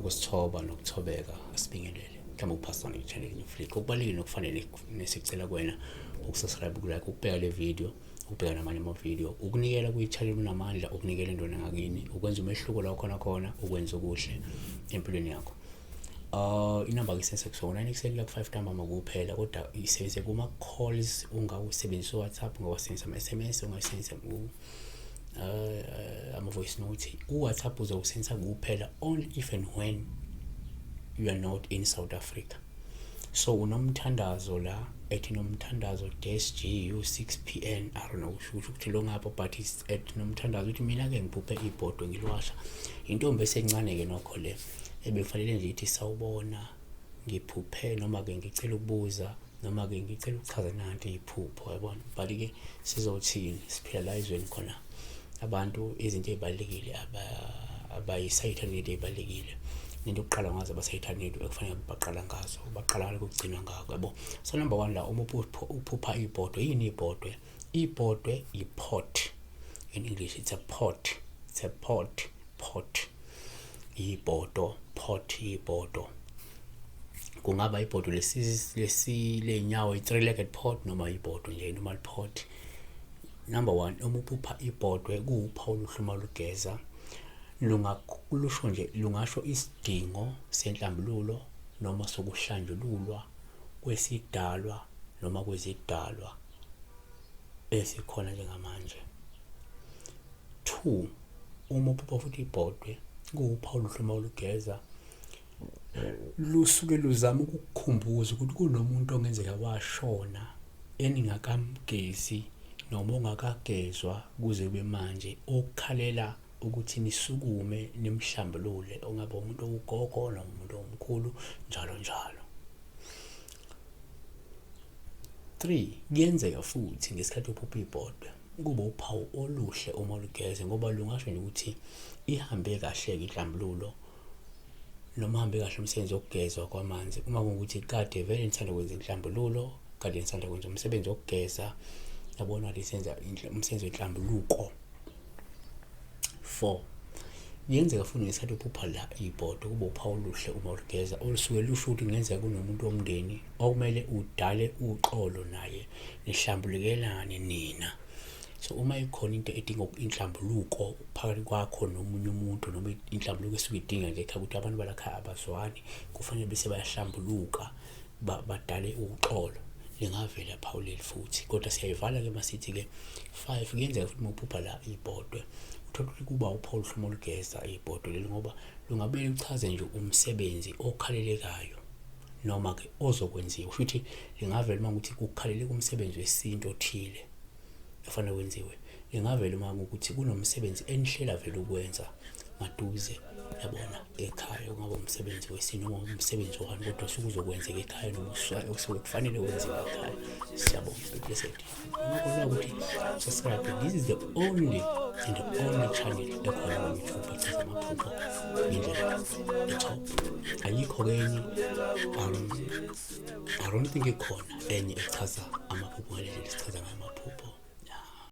ukusithoba nokuthobeka asibingelele mhlawumbe uphasa ngithanda elinye uflick okubalulekile nokufanele nesicela kuwena ukusubscribe ukulike ukubheka le video ukubheka namanye amavidiyo ukunikela kuyithalile unamandla ukunikela entweni ngakini ukwenza umehluko la khona khona ukwenza okuhle empilweni yakho Uh, inamba ngisese kusona ekuseni la ku-five ntambama kuphela kodwa isebenzise kuma-calls ungawusebenzisa uwhatsapp ungawasebenzisa ama-s m s ungawusebenzisa uh, ama-voice note uwhatsapp uzowusebenzisa kuphela only if and when you are not in south africa so unomthandazo la ethi nomthandazo dash g u 6 p n i don't know usho ukuthi lo ngapho but it's at nomthandazo uthi mina-ke ngibhubhe ibhodwe ngilwasha intombi esencane-ke nokho le ebekufanele nje ithi sawubona ngiphuphe noma-ke ngicela ukubuza noma-ke ngicela ukuchaza nanto iphupho yabona but-ke sizothini siphila la ezweni khona abantu izinto ey'balulekile abayisayithani into ey'balulekile nento yokuqala ngazo abasayithani into ekufanele baqala ngazo baqala ngale kokugcinwa ngako yabo so number one la uma uphupha ibhodwe yini ibhodwe Ibhodwe yi-pot. In English, it's a pot. It's a pot. Pot. Ibhodo. Pot. Ibhodo. Kungaba ibhodo lesi lenyawo i-three-legged pot noma ibhodo nje normal pot. Number one, uma uphupha ibhodwe kuwuphawu oluhluma lugeza. Lungalusho nje lungasho isidingo senhlambululo noma sokuhlanjululwa kwesidalwa noma kwezidalwa. esikhona njengamanje. Two, uma uphupha futhi ibhodwe kuwuphawu luhluma olugeza lusuke luzama ukukukhumbuza ukuthi kunomuntu ongenzeka washona eningakamgezi noma ongakagezwa kuze kube manje okhalela ukuthi nisukume nimhlambulule ongaba umuntu owugogo noma umuntu omkhulu njalo njalo 3 kuyenzeka futhi ngesikhathi uphupha ibhodwe kube uphawu oluhle uma lugeze ngoba lungasho nje ukuthi ihambe kahle inhlambululo noma hambe kahle umsebenzi wokugezwa kwamanzi uma kungukuthi kade vele nisanda kwenza inhlambululo kade nisanda kwenza umsebenzi wokugeza yabona lisenza umsebenzi wenhlambuluko 4 Kuyenzeka futhi ngesikhathi uphupha la ibhodo kube uphawu oluhle uma uligeza olusuke lusho ukuthi kungenzeka kunomuntu womndeni okumele udale uxolo naye nihlambulekelane nina so uma ikhona into edinga inhlambuluko phakathi kwakho nomunye umuntu noma inhlambuluko esuke idingeke ekha ukuthi abantu balakha abazwani kufanele bese bayahlambuluka badale uxolo lingavela phawuleli futhi kodwa siyayivala ke masithi ke 5 kuyenzeka ukuthi muphupha la ibhodwe uthola ukuthi kuba uphawu oluhlomo olugeza ibhodwe leli ngoba lungabe luchaze nje umsebenzi okhalelekayo noma ke ozokwenziwa kusho ukuthi lingavela uma ukuthi kukhaleleka umsebenzi wesintu othile efanele wenziwe lingavela uma ukuthi kunomsebenzi enihlela vele ukwenza maduze yabona ekhaya ungaba umsebenzi wesini ungaba umsebenzi wani kodwa suke uzokwenzeka ekhaya noma uswayo usuke kufanele wenzeka ekhaya siyabonga blessed ngakubona ukuthi subscribe this is the only and the only channel ekhona ku-youtube echaza amaphupho ngendlela etop ayikho kenye um, i don't think ikhona enye echaza amaphupho ngalendlela esichaza ngayo amaphupho